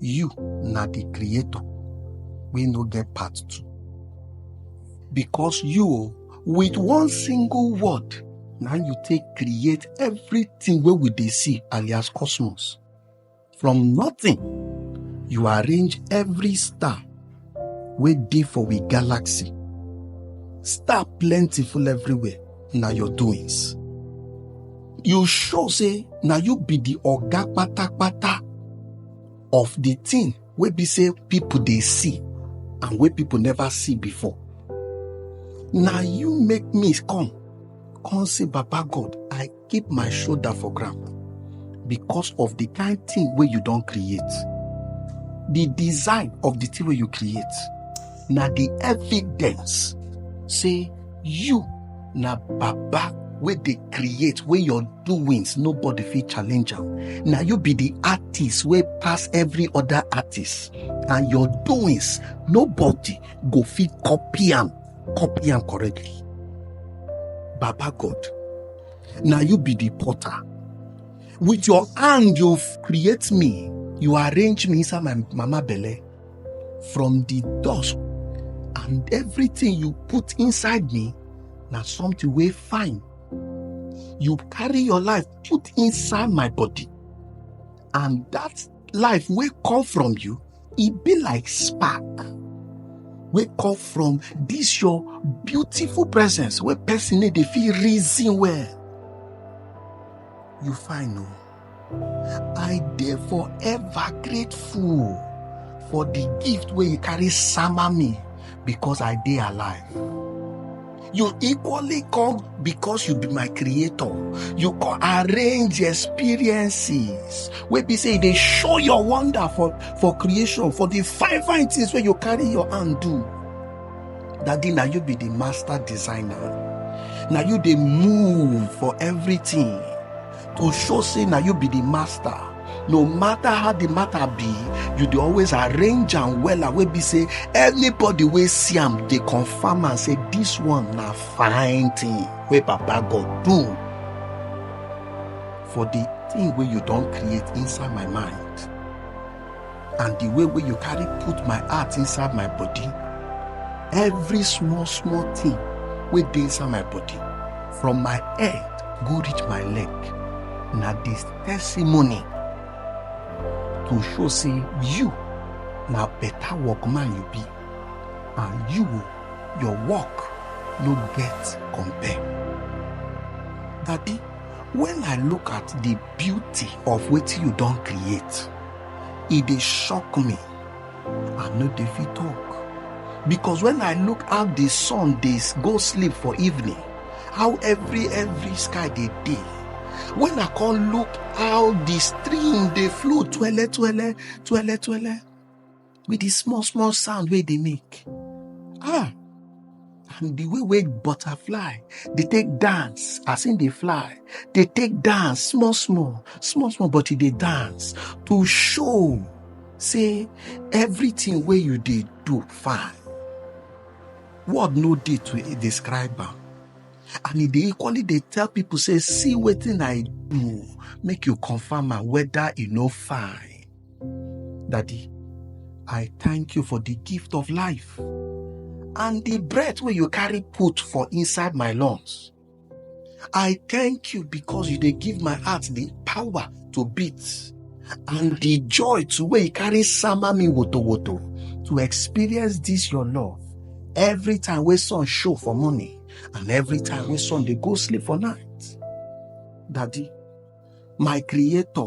you na the creator wey no get part two because you o with one single word na you take create everything wey we dey see alias cosmos from nothing you arrange every star wey dey for we galaxy. Star plenty full everywhere, na your doings. You sure say na you be the oga patapata of the thing wey be say people dey see and wey people never see before? Na you make me come, come say Baba God, I keep my shoulder for ground because of the kind thing wey you don create the design of the thing wey you create na the evidence say you na baba wey dey create wey your doings nobody fit challenge am na you be the artist wey pass every other artist and your doings nobody go fit copy am copy am correctly baba god na you be the potter with your hand you create me you arrange me inside my mama belle from the dust and everything you put inside me na something wey fine you carry your life put inside my body and that life wey come from you e be like spark wey come from this your beautiful presence wey person no dey fit reason well you fine o i dey forever grateful for the gift wey you carry sama me because i dey alive You equally come because you be my creator. You can arrange experiences wey be say e dey show your wonder for, for creation, for the fine fine things wey you carry your hand do. Daddy, na you be the master designer. Na you dey move for everything. to show say na you be the master no matter how the matter be you dey always arrange am wella wey be say anybody wey see am dey confirm am say this one na fine thing wey papa god do for the thing wey you don create inside my mind and the way wey you carry put my heart inside my body every small small thing wey dey inside my body from my head go reach my leg na the testimony to show say you na better workman you be and you your work no get compare daddy when i look at the beauty of wetin you don create e dey shock me i no dey fit talk because when i look how the sun dey s- go sleep for evening how every every sky dey dey when i come look how the stream dey flow twele twele twele twele with the small small sound wey dey make ah and the way wey butterfly dey take dance as im dey fly dey take dance small small small small but e dey dance to show say everything wey you dey do fine word no dey to describe am and e dey equally dey tell people say see wetin i do make you confirm am whether e no fine Daddy, I thank you for the gift of life and the breath where you carry put for inside my lungs. I thank you because you they give my heart the power to beat and the joy to where you carry sama me woto woto to experience this your love every time we sun show for morning and every time we sun they go sleep for night. Daddy, my creator,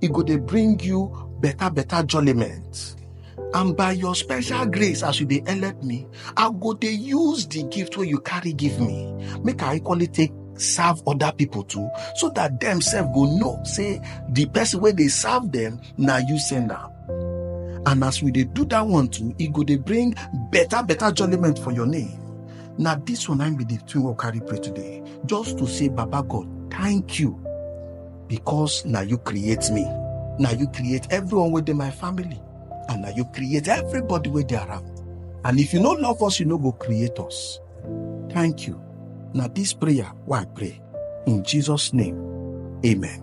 e go dey bring you better better jollyment and by your special grace as you dey help me i go dey use the gift wey you carry give me make i equally take serve other people too so that dem sef go know say the person wey dey serve them na you send am and as we dey do that one too e go dey bring better better jollyment for your name na this one na im be the thing wey we carry pray today just to say baba god thank you because na you create me na you create everyone wey dey my family and na you create everybody wey dey around and if you no love us you no go create us thank you na this prayer wey i pray in jesus name amen.